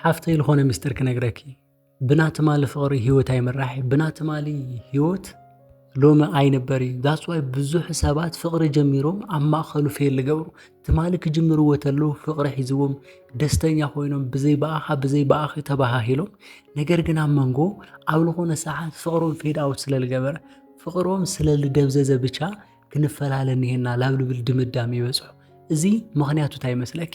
ሓፍተይ ልኾነ ምስጢር ክነግረኪ ብና ትማሊ ፍቕሪ ህይወት ኣይምራሕ ብና ትማሊ ህይወት ሎሚ ኣይንበር እዩ ዛስዋይ ብዙሕ ሰባት ፍቕሪ ጀሚሮም ኣብ ማእኸሉ ፌል ልገብሩ ትማሊ ክጅምርዎ ተለዉ ፍቕሪ ሒዝዎም ደስተኛ ኮይኖም ብዘይ በኣኻ ብዘይ በኣኺ ተባሃሂሎም ነገር ግን ኣብ መንጎ ኣብ ልኾነ ሰዓት ፍቕሮም ፌድ ኣውት ስለ ልገበረ ፍቕሮም ስለ ልደብዘዘ ብቻ ክንፈላለ ኒሄና ላብ ልብል ድምዳም ይበፅሑ እዚ ምኽንያቱ እንታይ ይመስለኪ?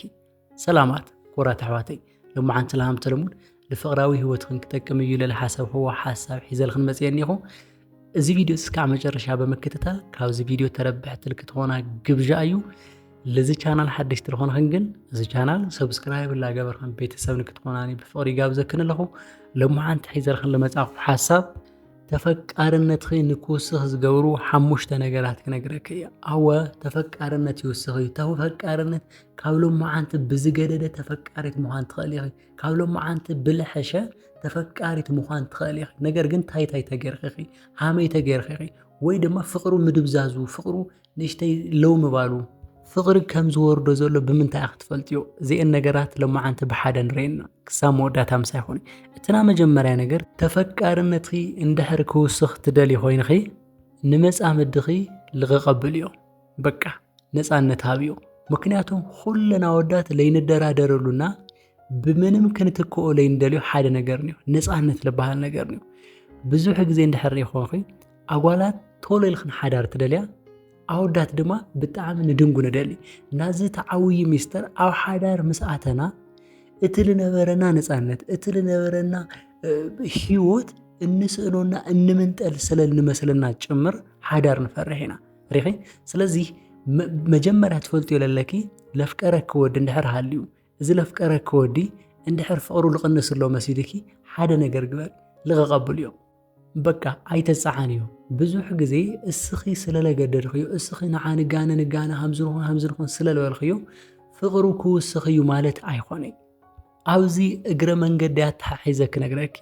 ሰላማት ኩራት ኣሕዋተይ ሎማዓንቲ ለሃም ተለሙድ ንፍቕራዊ ህይወትክን ክጠቅም እዩ ልል ሓሰብኽዎ ሓሳብ ሒዘልኽን መፅየ እኒኹ እዚ ቪድዮ እስካዕ መጨረሻ ብምክትታል ካብዚ ቪድዮ ተረብሕቲ ልክትኾና ግብዣ እዩ። ልዚ ቻናል ሓደሽቲ ልኾንኽን ግን እዚ ቻናል ሰብስክራይብ ላገበርኽን ቤተሰብ ንክትኾናኒ ብፍቕሪ ጋብዘክን ኣለኹ። ሎሚ ሓንቲ ሒዘልኽን ልመጻኹ ሓሳብ ተፈቃርነትኺ ንክውስኽ ዝገብሩ ሓሙሽተ ነገራት ክነግረክ እየ። ኣወ ተፈቃርነት ይውስኽ እዩ። ተፈቃርነት ካብ ሎማዓንቲ ብዝገደደ ተፈቃሪት ምዃን ትኽእል ኢኺ ካብ ሎማዓንቲ ብልሐሸ ተፈቃሪት ምዃን ትኽእል ኢኺ ነገር ግን ታይታይ ተገርኺ ኢኺ ሃመይ ተገርኺ ኢኺ ወይ ድማ ፍቕሩ ምድብዛዙ ፍቕሩ ንእሽተይ ለው ምባሉ ፍቕሪ ከም ዝወርዶ ዘሎ ብምንታይ ኢኺ ትፈልጥዮ እዚአን ነገራት ሎማዓንቲ ብሓደ ንርእየና ክሳብ መወዳእታ ምሳይ ኾኒ እቲ ናይ መጀመርያ ነገር ተፈቃርነትኺ እንድሕር ክውስኽ ትደልዪ ኮይንኺ ንመፃምድኺ ልቕቕ ኣብልዮ በቃ ነፃነት ሃብዮ ምክንያቱም ኩለን ኣወዳት ለይንደራደረሉና ብምንም ክንትክኦ ለይንደልዮ ሓደ ነገር ኒዮ ነፃነት ልበሃል ነገር ኒዮ ብዙሕ ግዜ እንድሕር ይኾንኺ ኣጓላት ቶሎ ኢልክን ሓዳር ትደልያ ኣወዳት ድማ ብጣዕሚ ንድንጉ ንደሊ ናዚ ተዓውዪ ሚስጥር ኣብ ሓዳር ምስ ኣተና እቲ ልነበረና ነፃነት እቲ ልነበረና ህይወት እንስእኖና እንምንጠል ስለ እንመስለና ጭምር ሓዳር ንፈርሕ ኢና ሪኺ ስለዚ መጀመርያ ትፈልጥዮ ለለኪ ለፍቀረኪ ወዲ እንድሕር ሃልዩ እዚ ለፍቀረኪ ወዲ እንድሕር ፍቕሩ ልቕንስ ኣሎ መሲልኪ ሓደ ነገር ግበር ልቐቐብሉ እዮም በቃ ኣይተፀዓን እዩ ብዙሕ ግዜ እስኺ ስለለገደድኽዮ እስኺ ንዓ ንጋነ ንጋነ ሃምዝንኹን ሃምዝንኹን ስለልበልኽዮ ፍቕሩ ክውስኽ እዩ ማለት ኣይኮነይ ኣብዚ እግረ መንገዲ ኣተሓሒዘ ክነግረኪ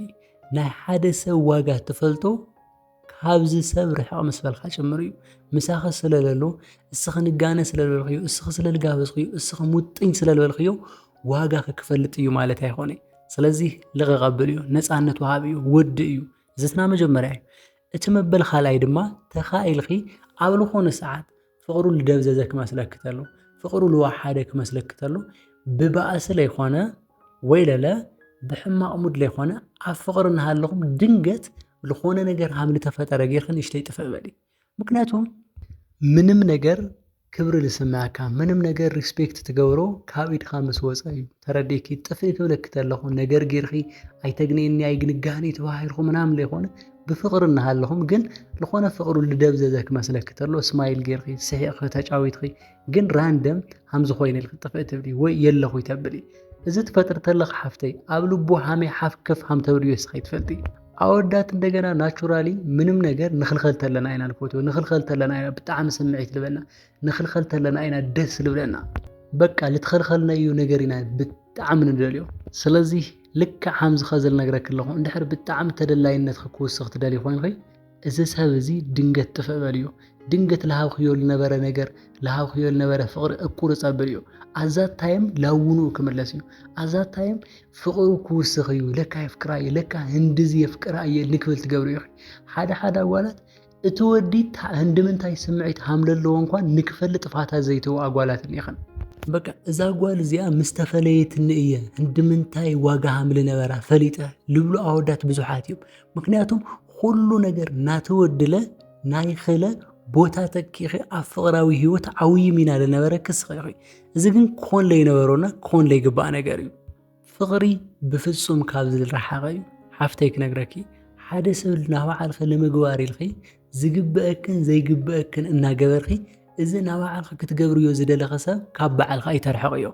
ናይ ሓደ ሰብ ዋጋ ትፈልጦ ካብዚ ሰብ ርሕቕ ምስ በልካ ጭምር እዩ። ምሳኺ ስለ ለሎ፣ እስኺ ንጋነ ስለ ልበልክዮ፣ እስኺ ስለ ልጋበዝክዮ፣ እስኺ ሙጥኝ ስለ ልበልክዮ ዋጋኺ ክፈልጥ እዩ ማለት ኣይኮነ። ስለዚ ልቕቕ ኣብል እዩ፣ ነፃነት ወሃቢ እዩ፣ ወዲ እዩ። እዚ እቲ መጀመርያ እዩ። እቲ መበል ካልኣይ ድማ ተኻኢልኺ ኣብ ዝኾነ ሰዓት ፍቕሩ ልደብዘዘ ክመስለኪ ተሎ፣ ፍቕሩ ልወሓደ ክመስለኪ ተሎ፣ ብባእሲ ለይኮነ ወይ ለለ ብሕማቕ ሙድ ለይኮነ ኣብ ፍቕሪ እናሃለኹም ድንገት ልኾነ ነገር ሃም ልተፈጠረ ጌርኪ ንእሽተይ ጥፍእ በሊ። ምክንያቱም ምንም ነገር ክብሪ ልስምዐካ ምንም ነገር ሪስፔክት ትገብሮ ካብ ኢድካ ምስ ወፀ እዩ። ተረዲእኪ ጥፍእ ክብለኪ ተለኹ ነገር ጌርኪ ኣይተግንየኒ ኣይግንጋህኒ ተባሂልኩ ምናምን ለይኮነ ብፍቅሪ እናሃለኹም ግን ዝኾነ ፍቅሩ ልደብዘዘ ክመስለኪ ተሎ ስማይል ጌርኺ ስሒቕኺ ተጫዊትኺ ግን ራንደም ሃምዚ ኮይነ ኢልኪ ጥፍእ ትብሊ ወይ የለኹ ይተብሊ እዚ ትፈጥሪ ተለኺ ሓፍተይ ኣብ ልቡ ሃመይ ሓፍ ከፍ ሃም ተብልዮ እስኺ ይትፈልጢ ኣወዳት እንደገና ናቹራሊ ምንም ነገር ንኽልኸል ተለና ኢና ንፈትዎ ንኽልኸል ተለና ኢና ብጣዕሚ ስምዒት ልበና ንኽልኸል ተለና ኢና ደስ ልብለና በቃ ልትኸልኸልናዩ ነገር ኢና ብጣዕሚ ንደልዮ ስለዚ ልክዕ ከምዚ ከዚ ልነግረኪ ኣለኹ እንድሕር ብጣዕሚ ተደላይነትኺ ክውስኽ ትደልዪ ኮይንኺ እዚ ሰብ እዚ ድንገት ጥፍእ በልዮ ድንገት ልሃብክዮ ልነበረ ነገር ልሃብክዮ ልነበረ ፍቕሪ እቁርፅ ኣብልዮ ኣዛት ታይም ላውኑኡ ክምለስ እዩ ኣዛት ታይም ፍቕሩ ክውስኽ እዩ ለካ የፍቅራ እዩ ለካ ህንድዚ የፍቅራ እየ ንክብል ትገብሪ ኢኺ ሓደ ሓደ ኣጓላት እቲ ወዲ ህንድምንታይ ስምዒት ሃምለለዎ እንኳን ንክፈልጥ ፋታ ዘይተው ኣጓላት እኒኸን። በቃ እዛ ጓል እዚኣ ምስ ተፈለየትኒ እየ ህንድምንታይ ዋጋ ሃምል ነበራ ፈሊጠ ልብሉ ኣወዳት ብዙሓት እዮም። ምክንያቱም ኩሉ ነገር ናተወድለ ናይ ኽለ ቦታ ተኪኺ ኣብ ፍቕራዊ ህይወት ዓውዪ ሚና ዝነበረ ክስኺ እዚ ግን ክኾን ለይነበሮና ክኾን ለይግባእ ነገር እዩ ፍቅሪ ብፍጹም ካብዚ ዝረሓቀ እዩ ሓፍተይ ክነግረኪ ሓደ ሰብ ናባዕልኺ ንምግባር ኢልኺ ዝግበእክን ዘይግበእክን እናገበርኺ እዚ ናባዕልኺ ክትገብርዮ ዝደለኺ ሰብ ካብ ባዕልኺ ኣይተርሕቅዮ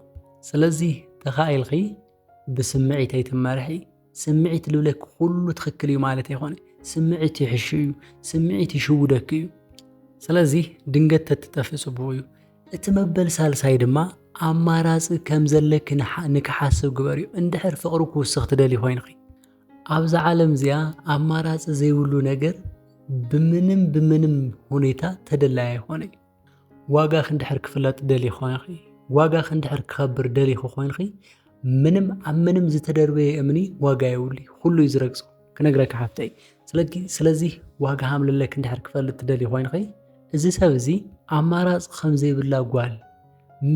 ስለዚ ተኻኢልኺ ብስምዒት ኣይትመርሒ ስምዒት ልብለኪ ኩሉ ትኽክል እዩ ማለት ኣይኮነ ስምዒት ይሕሹ እዩ ስምዒት ይሽውደኪ እዩ ስለዚ ድንገት ተትጠፍእ ጽቡቅ እዩ እቲ መበል ሳልሳይ ድማ ኣማራጺ ከም ዘለኪ ንክሓስብ ግበርዮ እንድሕር ፍቕሪ ክውስኽ ትደልዪ ኮይንኺ። ኣብዛ ዓለም እዚኣ ኣማራጺ ዘይብሉ ነገር ብምንም ብምንም ሁኔታ ተደላይ ኣይኾነይ። ዋጋኺ እንድሕር ክፍለጥ ደልዪ ኮይንኺ ዋጋኺ እንድሕር ክኸብር ደሊኺ ኮይንኺ ምንም ኣብ ምንም ዝተደርበየ እምኒ ዋጋ የብሉይ ኩሉ እዩ ዝረግጾ። ክነግረኪ ሓፍተይ ስለኪ ስለዚ ዋጋ ሃምልለክ እንድሕር ክፈልጥ ትደልይ ኮይንኺ እዚ ሰብ እዚ ኣማራፂ ከምዘይብላ ጓል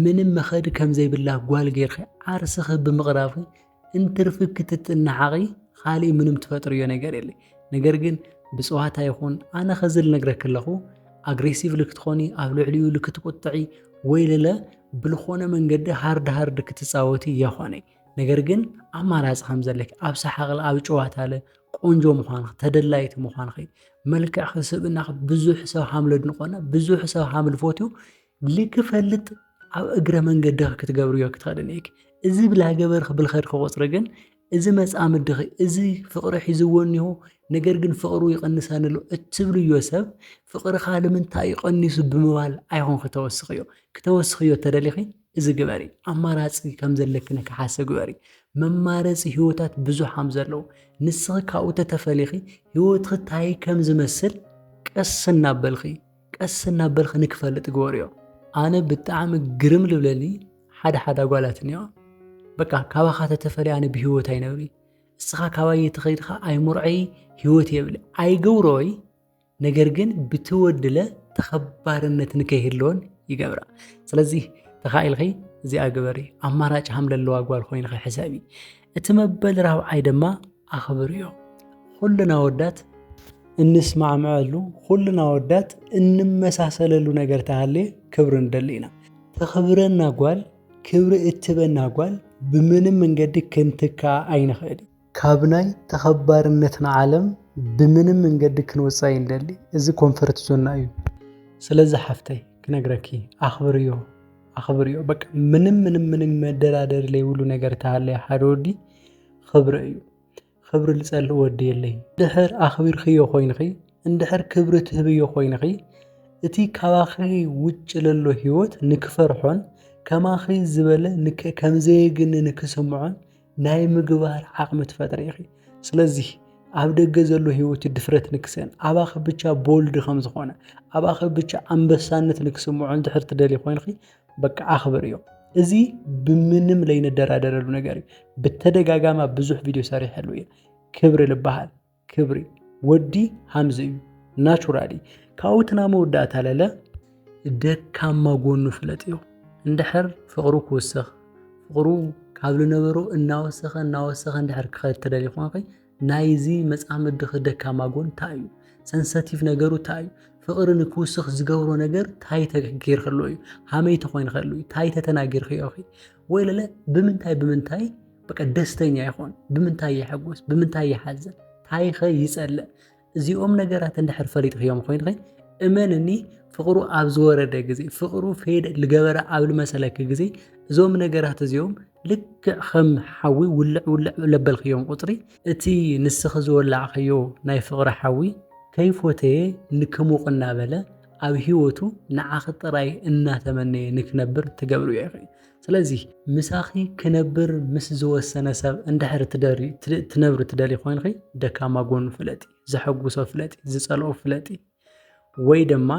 ምንም መኸዲ ከምዘይብላ ጓል ጌርኺ ዓርስኺ ብምቕራብኺ እንትርፊ ክትጥናሓቒ ኻሊእ ምንም ትፈጥርዮ ነገር የለ ነገር ግን ብፅዋታ ይኹን ኣነ ኸዚ ልነግረኪ ኣለኹ ኣግሬሲቭ ልክትኾኒ ኣብ ልዕሊኡ ልክትቁጥዒ ወይ ልለ ብልኾነ መንገዲ ሃርድ ሃርድ ክትፃወቲ የኾነይ ነገር ግን ኣማራፂ ከም ዘለኪ ኣብ ሰሓቕለ ኣብ ጨዋታለ ቆንጆ ምዃንኺ ተደላይቲ ምዃንኺ መልክዕኺ ስብእናኺ ብዙሕ ሰብ ሃም ለድንቆና ብዙሕ ሰብ ሃም ልፎትዩ ልክፈልጥ ኣብ እግረ መንገድኺ ክትገብርዮ ክትኸድን እየኪ እዚ ብላ ገበርኺ ብልኸድኪ ቁፅሪ ግን እዚ መፃምድኺ እዚ ፍቕሪ ሒዝዎ እኒሆ ነገር ግን ፍቕሩ ይቐንሰኒ ኣሎ እትብልዮ ሰብ ፍቕርኻ ንምንታይ እዩ ቀኒሱ ብምባል ኣይኹን ክተወስኽዮ ክተወስኽዮ እተደሊኺ እዚ ግበሪ ኣማራጺ ከም ዘለኪ ንክሓስብ ግበሪ መማረጺ ህይወታት ብዙሕ ከም ዘለው ንስኺ ካብኡ ተተፈሊኺ ህይወትኺ ታይ ከም ዝመስል ቀስ እናበልኺ ቀስ እናበልኺ ንክፈልጥ ግበሪዮ ኣነ ብጣዕሚ ግርም ልብለኒ ሓደ ሓደ ኣጓላት እኒኦ በቃ ካባኻ ተተፈሊ ኣነ ብህይወት ኣይነብሪ እስኻ ካባይ ተኸይድኻ ኣይሙርዐይ ህይወት የብሊ ኣይገብሮይ ነገር ግን ብትወድለ ተኸባርነት ንከይህልወን ይገብራ ስለዚ ተኻኢልኺ እዚኣ ግበሪ ኣማራጭ ሃም ለለዋ ጓል ኮይንኺ ሕሰቢ እቲ መበል ራብዓይ ድማ ኣኽብርዮ ኩልና ወዳት እንስማዕምዐሉ ኩልና ወዳት እንመሳሰለሉ ነገር ተሃልየ ክብሪ ንደሊ ኢና ተኽብረና ጓል ክብሪ እትበና ጓል ብምንም መንገዲ ክንትካ ኣይንኽእል ካብ ናይ ተኸባርነትና ዓለም ብምንም መንገዲ ክንወጽእ ኣይንደሊ። እዚ ኮንፈርት ዞንና እዩ። ስለዚ ሓፍተይ ክነግረኪ ኣኽብርዮ ኣኽብርዮ በቃ ምንም ምንም ምንም መደራደሪ ዘይብሉ ነገር ተሃለየ ሓደ ወዲ ክብሪ እዩ። ክብሪ ልጸልእ ወዲ የለይ። ድሕር ኣኽቢርክዮ ኮይንኺ እንድሕር ክብሪ ትህብዮ ኮይንኺ እቲ ካባኺ ውጭ ለሎ ህይወት ንክፈርሖን ከማኺ ዝበለ ከምዘየግንኒ ክስምዖን ናይ ምግባር ዓቕሚ ትፈጥሪ ኢኺ። ስለዚ ኣብ ደገ ዘሎ ህይወት ድፍረት ንክሰን ኣባኺ ብቻ ቦልድ ከም ዝኾነ ኣባኺ ብቻ ኣንበሳነት ንክስምዖ እንድሕር ትደልይ ኮይንኺ በቃ ኣኽብርዮ። እዚ ብምንም ለይንደራደረሉ ነገር እዩ። ብተደጋጋሚ ኣብ ብዙሕ ቪድዮ ሰሪሐሉ እየ። ክብሪ ልበሃል። ክብሪ ወዲ ሃምዝ እዩ ናቹራሊ ካብኡ እቲ ናይ መወዳእታ ለለ ደካማ ጎኑ ፍለጥዮ እንድሕር ፍቕሩ ክውስኽ ፍቕሩ ካብ ዝነበሮ እናወሰኸ እናወሰኸ እንድሕር ክኸድ ትደሊ ኳንኺ ናይዚ መፃምድኺ ደካማ ጎን እንታይ እዩ ሰንሰቲቭ ነገሩ እንታይ እዩ ፍቕሪ ንክውስኽ ዝገብሮ ነገር እንታይ ተገይርክሎ እዩ ሃመይ ተኾይንኸሉ እዩ እንታይ ተተናጊርክዮ ኺ ወይለለ ብምንታይ ብምንታይ በቃ ደስተኛ ይኾን ብምንታይ ይሐጎስ ብምንታይ ይሓዘን ታይኸ ይጸልእ እዚኦም ነገራት እንድሕር ፈሊጥክዮም ኮይንኸ እመንኒ ፍቕሩ ኣብ ዝወረደ ግዜ ፍቕሩ ፌድ ልገበረ ኣብ ልመሰለኪ ግዜ እዞም ነገራት እዚኦም ልክዕ ከም ሓዊ ውልዕ ውልዕ ለበልክዮም ቁፅሪ እቲ ንስኺ ዝወላዕኸዮ ናይ ፍቕሪ ሓዊ ከይፎተየ ንክሙቕ እናበለ ኣብ ሂወቱ ንዓኺ ጥራይ እናተመነየ ንክነብር ትገብርዮ ኢኺ ስለዚ ምሳኺ ክነብር ምስ ዝወሰነ ሰብ እንድሕር ትነብሪ ትደልዪ ኮይንኺ ደካማ ጎኑ ፍለጢ ዘሐጉሶ ፍለጢ ዝጸልኦ ፍለጢ ወይ ደማ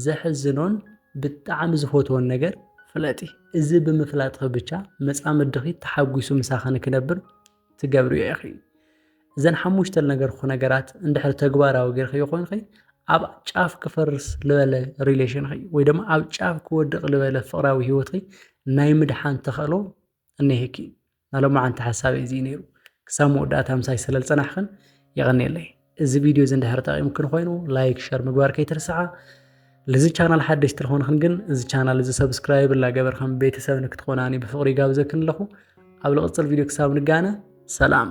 ዘሕዝኖን ብጣዕሚ ዝፈትዎን ነገር ፍለጢ እዚ ብምፍላጥኺ ብቻ መጻምድኺ ተሓጉሱ ምሳኺ ንክነብር ትገብርዮ ኢኺ። እዘን ሓሙሽተ ልነገርኩኺ ነገራት እንድሕር ተግባራዊ ጌርክዮ ኮይንኺ ኣብ ጫፍ ክፈርስ ልበለ ሪሌሽንኺ ወይ ድማ ኣብ ጫፍ ክወድቕ ልበለ ፍቕራዊ ህይወትኺ ናይ ምድሓን ተኸእሎ እኒሀኪ። ናይ ሎማዓንቲ ሓሳበይ እዚ እዩ ነይሩ። ክሳብ መወዳእታ ምሳይ ስለልጸናሕክን የቐንየለይ። እዚ ቪድዮ እዚ እንድሕር ጠቒምክን ኮይኑ ላይክ ሸር ምግባር ከይትርስዓ። ልዚ ቻናል ሓደሽቲ ዝኾንክን ግን እዚ ቻናል እዚ ሰብስክራይብ ላገበር ከም ቤተሰብ ንክትኾናኒ ብፍቕሪ ይጋብዘክን ኣለኹ። ኣብ ልቕፅል ቪድዮ ክሳብ ንጋነ ሰላም።